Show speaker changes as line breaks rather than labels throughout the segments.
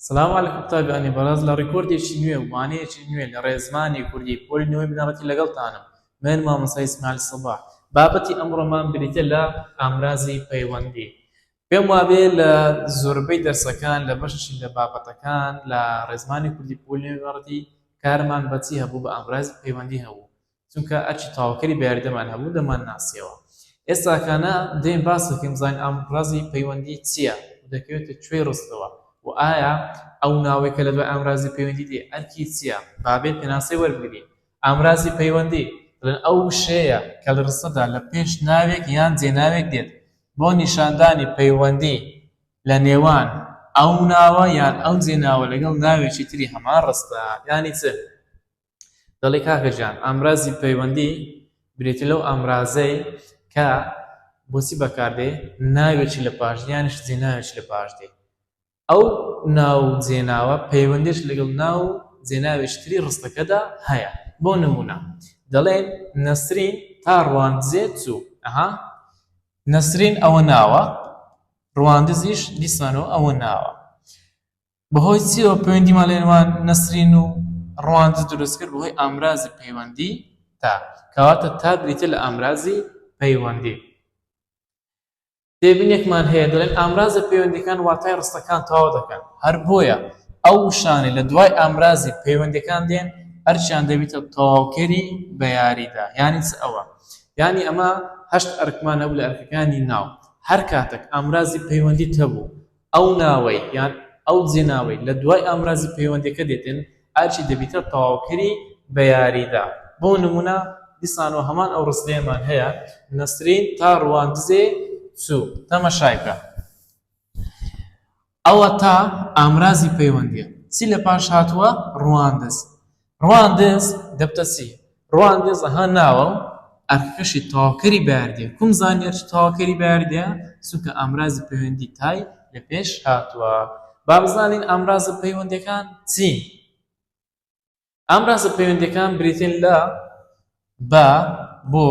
سڵاو علیکم قوتابیانی بەڕێز لە ڕیکۆردێکی نوێ و وانەیەکی نوێ لە ڕێزمانی کوردی پۆلی نۆی بنەڕەتی لەگەڵتانم من مامۆستا ئیسماعیل سەباح بابەتی ئەمڕۆمان بریتیە لە ئامرازی پەیوەندی پێم وابێ لە زۆربەی دەرسەکان لە بەشی لە بابەتەکان لە ڕێزمانی کوردی پۆلی نۆی بنەڕەتی کارمان بە چی هەبوو بە ئامرازی پەیوەندی هەبوو چونکە ئەرکی تاوکەری بەیاریدەمان هەبوو دەمانناسیەوە ئێستاکانە دێین باسەکەین بزانین ئامڕازی پەیوەندی چیە و دەکەوێتە کوێی ڕستەوە و ئایا ئەو ناوەی کە لەدوای ئامرازی پەیوەندی دێ ئەرکی چیە بابێت پێناسەی وەربگرین ئامرازی پەیوەندی دەڵێن ئەو وشەیە کە لە ڕستەدا لە پێش ناوێک یان جێناوێک دێت بۆ نیشاندانی پەیوەندی لە نێوان ئەو ناوە یان ئەو جێناوە لەگەڵ ناوێکی تری هەمان ڕستە یانی چ؟ دەڵێ کاکە گیان ئامرازی پەیوەندی بریتی لەو ئامرازەی کە بۆچی بەکاردێ ناوێکی لە پاش یانش جێناوێکی لە پاش دێ ئەو ناو جێناوە پەیوەندیش لەگەڵ ناو جێناوێشتری ڕستەکەدا هەیە بۆ نمونە دەڵێن نەسرین تا ڕواندزێ چوو ئەها نەسرین ئەوە ناوە ڕواندزیش دیسانەوە ئەوە ناوە بەهۆی چیەوە پەیوەندیمان لە نێوان نەسرین و ڕەواندز دروست کرد؟ بەهۆی ئامرازی پەیوەندی تا، کەواتە تا بریتیە لە ئامرازی پەیوەندی. تێبینێکمان هەیە دەڵێن ئامرازە پەیوەندیەکان واتای ڕستەکان تەواو دەکەن، هەر بۆیە ئەو وشانەی لە دوای ئامرازی پەیوەندیەکان دێن ئەرکیان دەبیتە تەواوکەری بە یاریدا، یانی چ ئەوە؟ یانی ئەمە هەشت ئەرکمان هەبوو لە ئەرکەکانی ناو، هەر کاتەک ئامرازی پەیوەندیت هەبوو، ئەو ناوەی یان ئەو جێناوەی لە دوای ئامرازی پەیوەندیەکە دێتن ئەرکی دەبیتە تەواوکەری بە یاریدا بۆ نمونە دیسانەوە هەمان ئەو ڕستەیەمان هەیە نەسرین تا ڕواندزێ چوو تەمەشای بکە ئەوە تا ئامرازی پەیوەندیە چی لە پاش هاتووە ڕواندز ڕواندز، دەبتە چی؟ ڕواندز، ئەها ناوە و ئەرکەکەشی تەواوکەری بەیاردیە، کوم زانیار چ تەواوکەری بەیاردیە؟ چونکە ئامرازی پەیوەندی تای لە پێش هاتووە. با بزانین ئامرازە پەیوەندیەکان چین؟ ئامرازە پەیوەندیەکان بریتین لە، بە، بۆ،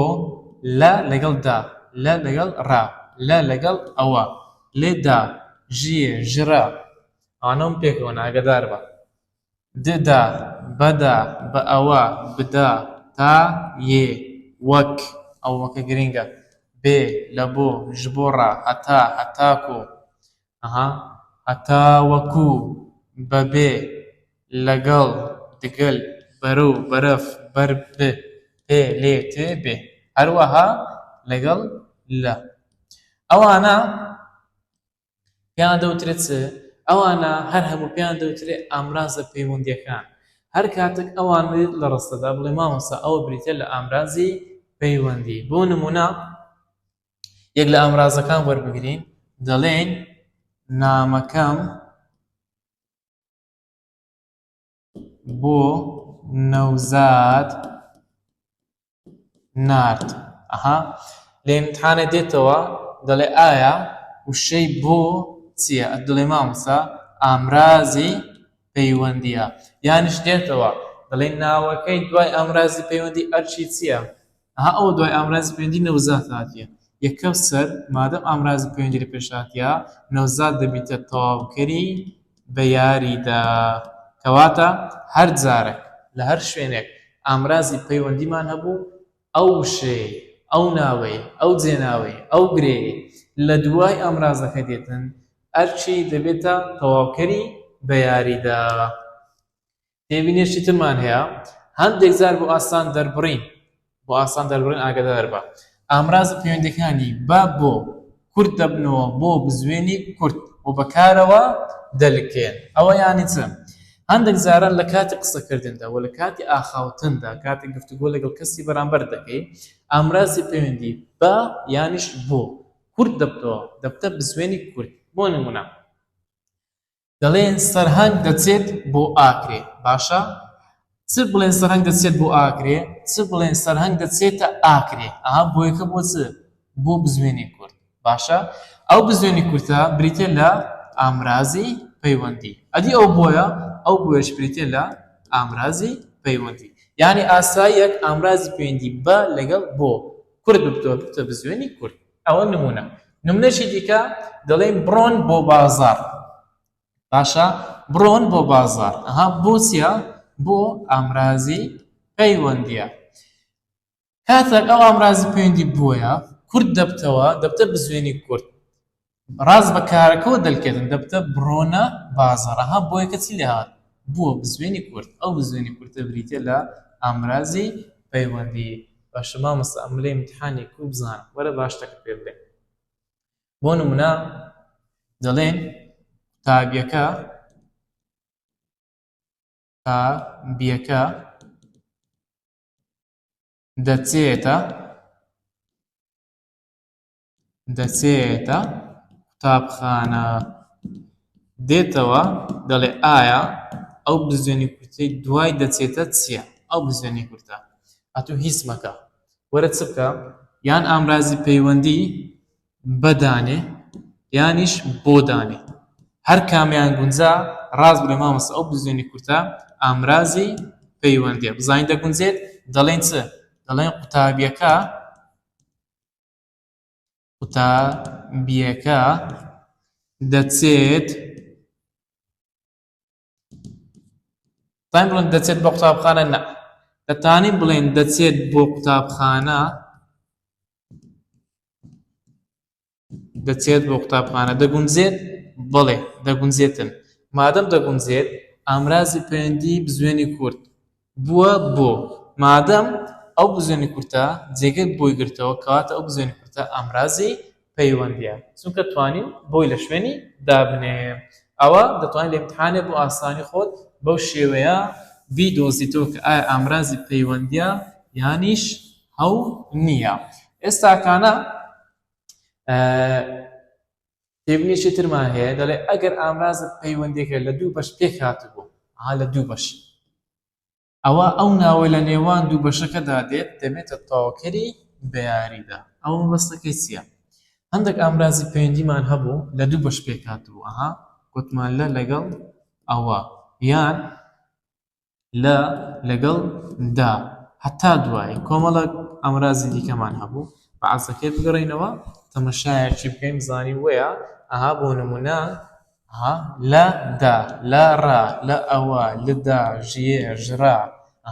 لە لەگەڵ دا، لە لەگەڵ ڕا، لە لەگەڵ ئەوە، لێ دا، ژیێ، ژرا. ئەوانە ون پێکەوەن، ئاگەداربە. ددا، بەدا، بەئەوە، بدا، تا، یێ، وەک، ئەوەکە گرینگە، بێ، لەبۆ، ji بۆ ڕا، هەتا، هەتاکۆ، ها، هەتاوەکو، بەبێ، لەگەڵ، دگەل، بەرەو، بەرەف، بەر، ب، پێ، لێ، تێ، بێ. هەروەها لەگەڵ، لە. ئەوانە پێیان دەوترێت چ؟ ئەوانە هەر هەموو پێیان دەوترێت ئامرازە پەیوەندیەکان. هەر کاتێک ئەوان لە ڕستەدا بڵێ مامۆستا ئەوە بریتیە لە ئامرازی پەیوەندی. بۆ نمونە یەک لە ئامرازەکان وەربگرین دەڵێین نامەکەم بۆ نەوزاد نارد ئەها لە امتحانە دێتەوە دەڵێ ئایا وشەی بۆ چییە دڵێ مامسا ئامرازی پەیوەندیە یانش دێتەوە دەڵێ ناوەکەی دوای ئامرازی پەیوەندی ئەرچی چییە ئەها ئەوە دوای ئامرازی پەیوەندی نەوزاد هاتیە یەکەم سەر مادەم ئامرازی پەیوەندی لە پێش هاتیە نەوزاد دەبیتە تەواوکەری بە یاریدا کەواتە هەر جارەک لە هەر شوێنێک ئامرازی پەیوەندیمان هەبوو ئەو وشەیەی ئەو ناوەی ئەو جێناوەی ئەو گرێی لە دوای ئامرازەکە دێتن ئەرکی دەبێتە تەواوکەری بە یاریدا. تێبینیەکی ترمان هەیە هەندێک جار بۆ ئاسان دەربڕین بۆ ئاسان دەربڕین ئاگدار بە ئامراز پەیوەندەکانی با بۆ کورت دەبنەوە بۆ بزوێنی کورت و بەکارەوە دەلکێن ئەوە یانی چ هەندێک جاران لە کاتی قسەکردندا و لە کاتی ئاخاوتندا کاتی گفتوگۆ لەگەڵ کەسی بەرامبەر دەکەی ئامرازی پەیوەندی بە یانیش بۆ کورت دەبتەوە دەبتە بزوێنی کورت بۆ نمونە دەڵێن سەرهەنگ دەچێت بۆ ئاکرێ باشە چ بڵێن سەرهەنگ دەچێت بۆ ئاکرێ چ بڵێن سەرهەنگ دەچێتە ئاکرێ ئەها بۆ یەکە بۆ چ بۆ بزوێنی کورد باشە ئەو بزوێنی کورتە بریتە لە ئامرازی پەیوەندی ئەدی ئەو بۆیە ئەو بۆیش بریتە لە ئامرازی پەیوەندی یعنی ئاساییەک ئامرازی پەیوەندی بە لەگەڵ بۆ کورد بکتۆر بکتە بزوێنی کورد ئەوە نمونە نمونەشی دیکە دەڵێن بڕۆن بۆ بازار باشە بڕۆن بۆ بازار ئەها بۆچە بۆ ئامرازی پەیوەندیە کاتێک ئەو ئامرازی پەیوەندی بووە کورد دەبتەوە دەبتە بزوێنی کورد ڕاز بە کارەکەەوە دەلکردن دەبتە بڕۆنە بازارەها بۆیە کەچی لێهات بووە بزوێنی کورد ئەو بزوێنی کورتە بریتە لە ئامرازی پەیوەندی باشە مامۆستا ئەملێ ئیمتحانی کو بزانم وەرە با شتەکە پێ بلێم بۆ نمونە دەڵێن قوتابیەکە تا بیەکە دەچێتە دەچێتە قوتابخانە دێتەوە دەڵێ ئایا ئەو بزوێنی کورتەی دوای دەچێتە چییە ئەو بزوێنی کورتە ئەتو هیچ مەکە وەرە چ بکە یان ئامرازی پەیوەندی بەدانێ یانیش بۆ دانێ هەر کامیان گونجا ڕاست بێ مامەسە ئەو بزوێنی کورتە ئامرازی پەیوەندی بزانین دەگونجێت دەڵێن چ دەڵێن قوتابیەکە قوتابیەکە دەچێت تایم بڵێن دەچێت بۆ قوتابخانە نە دەتانی بڵێن دەچێت بۆ قوتابخانە دەچێت بۆ قوتابخانە دەگونجێت بڵێ دەگونجێتن مادەم دەگونجێت ئامرازی پەیوەندی بزوێنی کورد بووە بۆ مادەم ئەو بزوێنە کورتە جێگەی بۆی گرتەوە کەواتە ئەو بزوێنە کورتە ئامرازی پەیوەندیە چونکە توانیم بۆی لە شوێنی دابنێم ئەوە دەتوانی لە ئیمتحانێ بۆ ئاسانی خۆت بەو شێوەیە بیدۆزیتەوە کە ئایا ئامرازی پەیوەندیە یانیش هەو نیە ئێستاکانە تێبینێکی ترمان هەیە دەڵێ ئەگەر ئامرازت پەیوەندێکە لە دوو بەش پێک هاتبوو ها لە دوو بەش ئەوە ئەو ناوە لە نێوان دوو بەشەکەدا دێت دەبێتە تەواوکەری بەیاریدا ئەو مەبەستەکەی چییە هەندێک ئامرازی پەیوەندیمان هەبوو لە دوو بەش پێک هاتبوو ئەها گوتمان لە لەگەڵ ئەوە یان لە لەگەڵ دا هەتا دوایی کۆمەڵێک ئامرازی دیکەمان هەبوو بە عەزەکێ بگەڕێینەوە تەمەشایەکی بکەین بزانین وەیە ئەها بۆ نموونە ها لە دا لە ڕا لە ئەوە لدا ژیێ ژڕا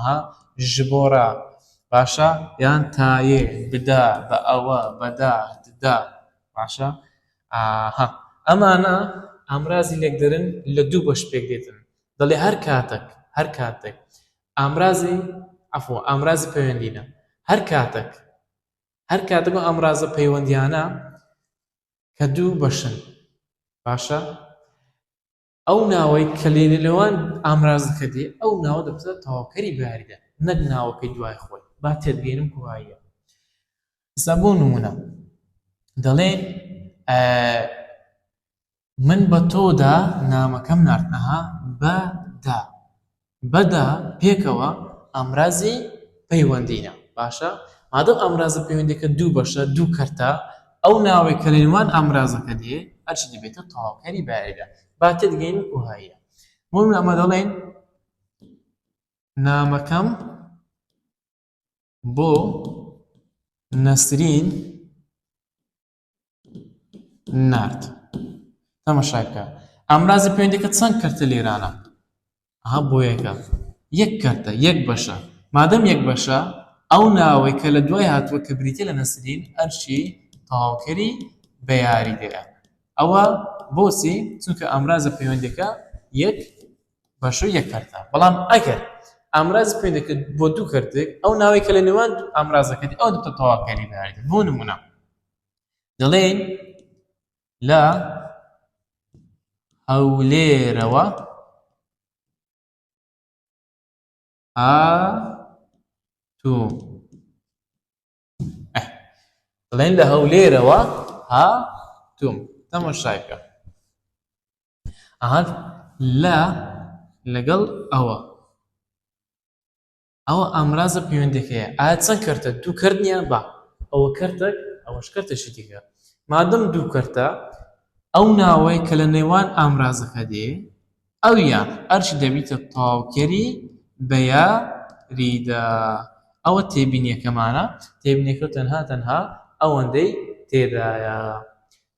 ها ژبۆڕا باشە یان تایێ بدا بە ئەوە بەدا ددا باشە ئاها ئەمانە ئامرازی لێکدەرن لە دوو بەش پێک دێتن دەڵێ هەر کاتەک، هەر کاتەک، ئامرازی، عەفو، ئامرازی پەیوەندییە، هەر کاتەک، هەر کاتەک ئەو ئامرازە پەیوەندییانە کە دوو بەشن، باشە، ئەو ناوەی کە لە نێوان ئامرازەکە دێ، ئەو ناوە دەبێتە تەواوکەری بەیاریدە، نەک ناوەکەی دوای خۆی، با تێبگەینم کۆاییە. ئێستا بۆ نموونە دەڵێین، ئە، من بە تۆدا نامەکەم نارد ئەها بە دا بە دا پێکەوە ئامرازی پەیوەندینە باشە مادەم ئامرازە پەیوەندیەکە دوو بەشە دوو کەرتە ئەو ناوەی کە لەنێوان ئامرازەکە دێ ئەرچی دەبێتە تەواوکەری بارەگا با تێدگەین وەکو هایە بۆ من ئەمە دەڵێن نامەکەم بۆ نەسرین نارد تەمەشای بکە ئامرازی پەیوەندەکە چەند کەرتە لێرانە ئەها بۆ یەکە یەک کەرتە یەک بەشە مادەم یەک بەشە ئەو ناوەی کە لە دوای هاتووە کە بریتە لە نەسرین ئەرشی تەواوکەری بە یاریگەیە ئەوە بۆچی چونکە ئامرازە پەیوەندەکە یەک باشووری یەک کەرتە، بەڵام ئەگەر ئامرازی پەیوەند دەکرێت بۆ دوو کەرتێک، ئەو ناوەی کە لە نێوان دوو ئامرازەکە دێت ئەوە دەبێتە تەواوکەری بە یاریدەر، بۆ نموونە دەڵێین لە هەولێرەوە هاتووم. بڵێن لە هەولێرەوە ها توم تەمەشایکە ئەهات لە لەگەڵ ئەوە ئەوە ئامرازە پەیوەندەکەیە ئایا چەند کردە دوو کردنیان بە ئەوە کردێک ئەوەش کردێکی دیکە مادەم دوو کردە ئەو ناوەی کە لە نێوان ئامرازەکە دێ ئەو یا ئەرچی دەبیتە تاوکەری بە یا ریدا. ئەوە تێبینیەکەمانە، تێبینیەکە تەنها تەنها ئەوەندەی تێدایە.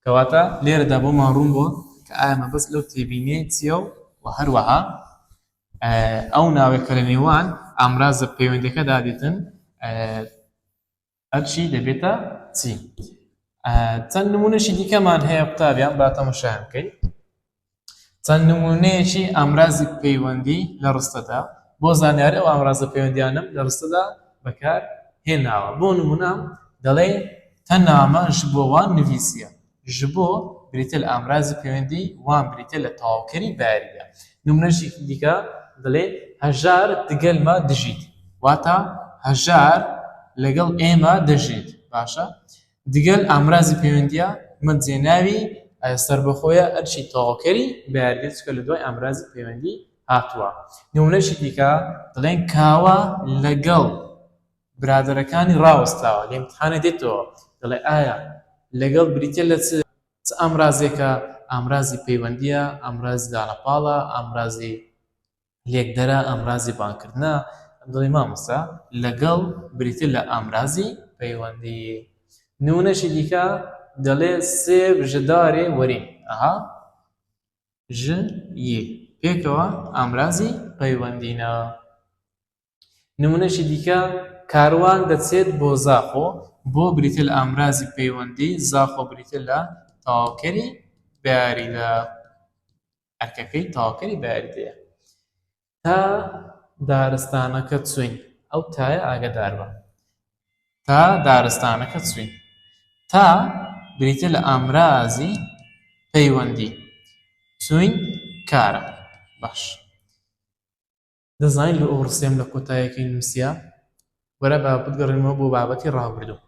کەواتە لێرەدا بۆمان روون بووە کە ئایا مەبەست لەو تێبینیەی چیە و وە هەروەها ئەو ناوێک کە لە نێوان ئامرازە پەیوەندیەکەدا دێتن ئەرکی دەبێتە چی چەند نمونەشی دیکەمان هەیە قوتابیان با تەمەشایان بکەین چەند نمونەیەکی ئامرازی پەیوەندی لە ڕستەدا بۆ زانیاری ئەو ئامرازە پەیوەندیانم لە ڕستەدا بەکار هێناوە بۆ نمونە دەڵێ تەنامە ژبۆوان نویسیە ژ بۆ بریتیە لە ئامرازی پەیوەندی وان بریتیە لە تەواوکەری بەیاریگە. نمونەژیکی دیکە دەلێ، هەژار دگەل مە دژیت، واتا هەژار لەگەڵ ئێمە دەژیت. باشە دگەل ئامرازی پەیوەندیە مە جێناوی سەربەخۆیە ئەرکی تەواوکەری بەیاریگە چونکە لە دوای ئامرازی پەیوەندی هاتوە. نمونەژی دیکە دەلێن، کاوە لەگەڵ برادەرەکانی ڕاوەستاوە لە ئیمتحانێ دێتەوە دەڵێ ئایا لەگەڵ بریتیە لە چ چ ئامرازێکە ئامرازی پەیوەندیە ئامرازی دانە پاڵە ئامرازی لێکدەرە ئامرازی بانکردنە دڵی مامۆستا لەگەڵ بریتە لە ئامرازی پەیوەندی نونەشی دیکە دەڵێ سێ ژدارێ وەرین ئەها ژ یە پێکەوە ئامرازی پەیوەندینە نمونەیەکی دیکە، کاروان دەچێت بۆ زاخۆ، بۆ بریتییە لە ئامرازی پەیوەندی، زاخۆ بریتییە لە تەواوکەری بەیاریدا، ئەرکەکەی تەواوکەری بەیاریدەیە. تا دارستانەکە چووین، ئەو تایە ئاگەدار بە. تا دارستانەکە چووین. تا بریتییە لە ئامرازی پەیوەندی، چووین کارە. باش. دەزانیت بۆ ئەو ڕستەیەم لە کۆتایەکەی نووسیە؟ وەرە با بگەڕێنەوە بۆ بابەتی ڕابردوو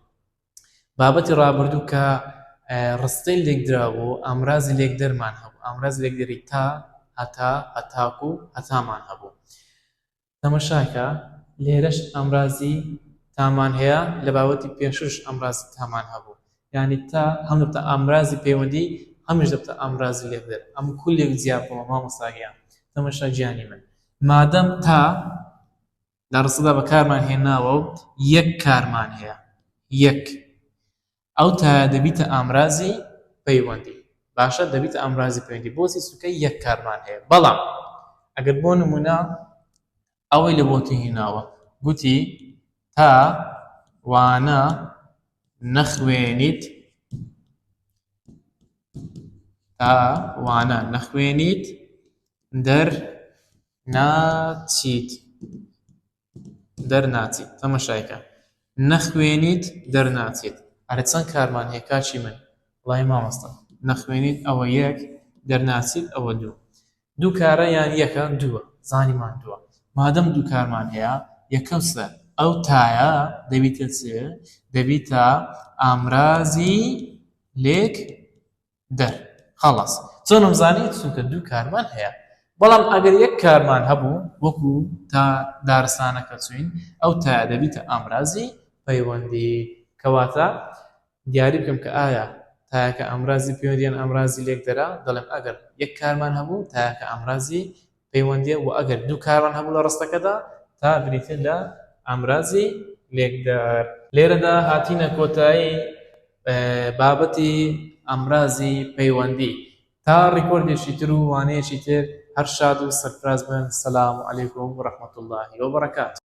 بابەتی ڕابردوو کە ڕستەی لێکدرا بۆ ئامرازی لێکدەرمان هەبوو ئامراز لێکدەری تا هەتا هەتاکو و هەتامان هەبوو تەمەشاکە لێرەش ئامرازی تامان هەیە لە باوەتی پێشوش ئەمراز تامان هەبوو یانی تە هەم دەبتە ئامرازی پەیوەندی هەمیش دەبتە ئامرازی لێکدەر ئەم کولێک جیا بکەوە مامۆستا گیان تەمەشا گیانی من مادەم تا لە ڕستەدا بەکارمان هێناوە و یەک کارمان هەیە یەک ئەو تا دەبیتە ئامرازی پەیوەندی باشە دەبیتە ئامرازی پەیوەندی بۆچی سوکە یەک کارمان هەیە بەڵام ئەگەر بۆ نمونە ئەوەی لە بۆتی هیناوە گوتی تا وانە نەخوێنیت تا وانە نەخوێنیت دەر ناچیت دەرناچیت تەمەشایکە نەخوێنیت دەرناچیت ئەرە چەند کارمان هەیە کاچی من وڵی مامۆستا نەخوێنیت ئەوە یەک دەرناچیت ئەوە دوو دوو کارە یان یەکە؟ دووە. زانیمان دووە. مادەم دوو کارمان هەیە، یەکەم چ؟ ئەو تایە دەبیتە چ؟ دەبیتە ئامرازی لێکدەر. خەڵاس. چۆنم زانی؟ چونکە دوو کارمان هەیە. بەڵام ئەگەر یەک کارمان هەبوو، وەکو تا دارستانەکە چووین، ئەو تایە دەبیتە ئامرازی پەیوەندی. کەواتە دیاری بکەم کە ئایا تایەکە ئامرازی پەیوەند یان ئامرازی لێکدەرە، دەڵێم ئەگەر یەک کارمان هەبوو تایەکە ئامرازی پەیوەندیە وە ئەگەر دوو کارمان هەبوو لە ڕستەکەدا تا بریتین لە ئامرازی لێکدەر. لێرەدا هاتینە کۆتایی بابەتی ئامرازی پەیوەندی تا ڕیکۆردێکی تر و وانەیەکی تر هەر شاد و سەرفراز بن سلام علیکم و رحمەتوڵڵاهی وبەڕەکاتوو.